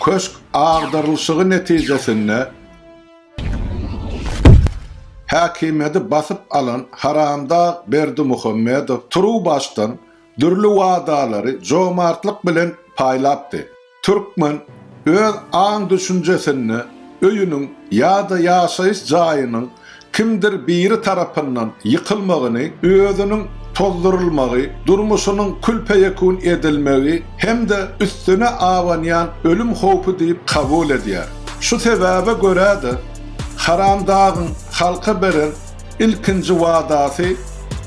Köşk agdarylyşygy netijesinde häkimiýeti basyp alan haramdag Berdimuhamedow turuwbaşdan dürli wadalary jomartlyk bilen paýlapdy. Türkmen öz aň-düşünjesinde öýüniň ýa-da ýaşaýyş jaýynyň kimdir biri tarapyndan ýykylmagyny, özüniň tozdurylmagy, durmuşynyň kül-peýekun edilmegi hem-de üstüne abanýan ölüm howpy diýip kabul edýär. Şu sebäbe görä-de, Haramdagyň halka beren ilkinji wadasy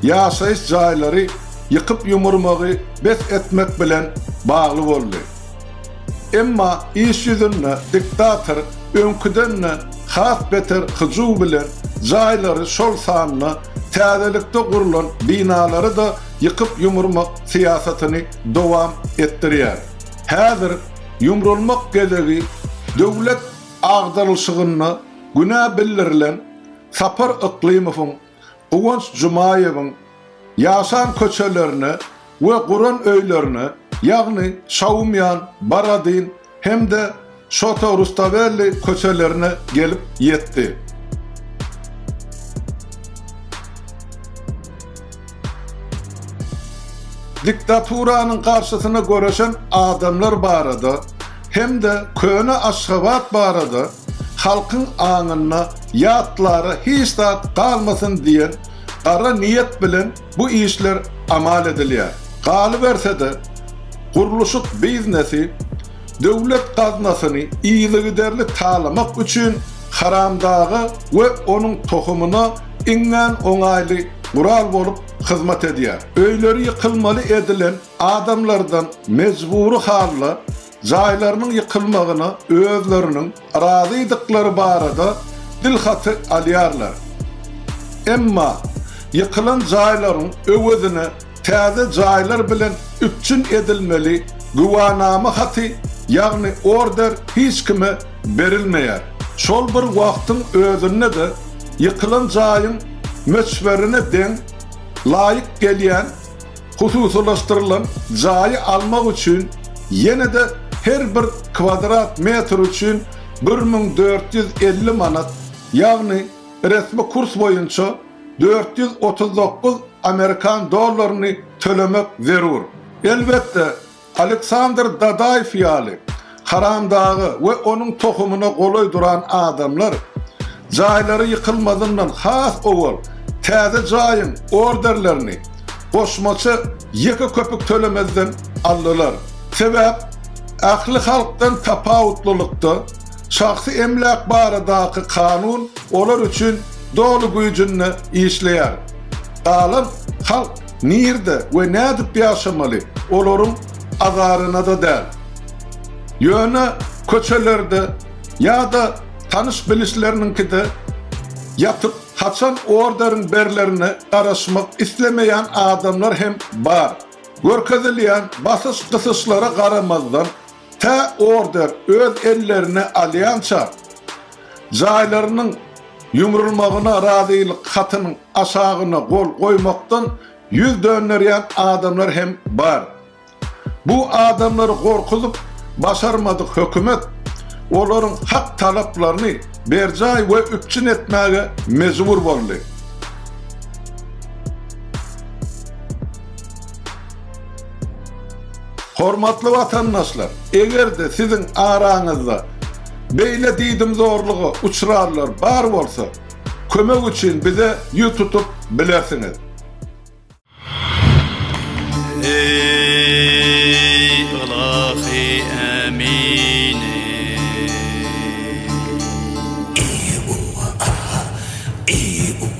ýaşaýyş jaýlary ýykyp-ýumurmagy bes etmek bilen bagly boldy. Emma iş ýüzünde diktator öňküden-de has beter hyjuw bilen jaýlary, şol sanda täzelikde gurlan binalary-da ýykyp-ýumurmak syýasatyny dowam etdirýär. Häzir ýumrulmak gezegi döwlet agdarylyşygynda günä bildirilen Sapar Yklymowyň, Guwanç Jumaýewiň, Ýasan köçelerine we guran öýlerine, ýagny Şaumýan, Baradin hem-de Şoto-Rustavelli köçelerine gelip ýetdi. Diktaturanyň garşysyna göreşen adamlar barada hem-de köne Aşgabat barada halkyň aňynda ýatlara hiç zat galmasyn diýen gara niýet bilen bu işler amal edilýär. Galyberse-de, gurluşyk biznesi döwlet gaznasyny yzygiderli talamak üçin haramdaga we onuň tohumyna iňňän oňaýly gural bolup hyzmat edýär. Öýleri ýykylmaly edilen adamlardan mejbury halda jaýlarynyň ýykylmagyna özleriniň razydyklary barada dilhaty alýarlar. Emma ýykylan jaýlaryň öwezine täze jaýlar bilen üpjün edilmeli güwanama haty, ýagny order hiç kime berilmeýär. Şol bir wagtyň özünde-de ýykylan jaýyň möçberine deň, laýyk gelýän Hususylaşdyrylan jaýy almak üçin ýene-de her bir kwadrat metr üçin bir müň dört ýüz elli manat, ýagny resmi kurs boýunça dört ýüz otuz dokuz amerikan dollaryny tölemek zerur. Elbetde, Aleksandr Dadaýew ýaly haramdaga we onuň tohumyna golaý duran adamlar jaýlary ýykylmazyndan has owal täze jaýyň orderlerini goşmaça ýeke köpük tölemezden aldylar. Sebäp, ähli halkdan tapawutlylykda, şahsy emläk baradaky kanun olar üçin doly güýjünde işleýär. Galan halk Nirde we nädip ýaşamaly, olaryň azaryna-da däl. Ýöne köçelerde ýa-da tanyş-bilişleriniňkide ýatyp, haçan orderiň berlerine garaşmak islemeýän adamlar hem bar. Görkezilýän basyş-gysyşlara garamazdan, Tä order öz ellerine alýança, jaýlarynyň ýumrulmagyna razylyk hatynyň aşagyna gol goýmakdan ýüz dönderýän adamlar hem bar. Bu adamlary gorkuzyp başarmadyk hökümet olaryň hak talaplaryny berjaý we üpjün etmäge mejbur boldy. Hormatly watandaşlar, eger-de siziň araňyzda beýle diýdimzorluga uçranlar bar bolsa, kömek üçin bize ýüz tutup bilersiňiz. Eý, ylahy Ämini! Eý, uwa, aha! Eý, uwa,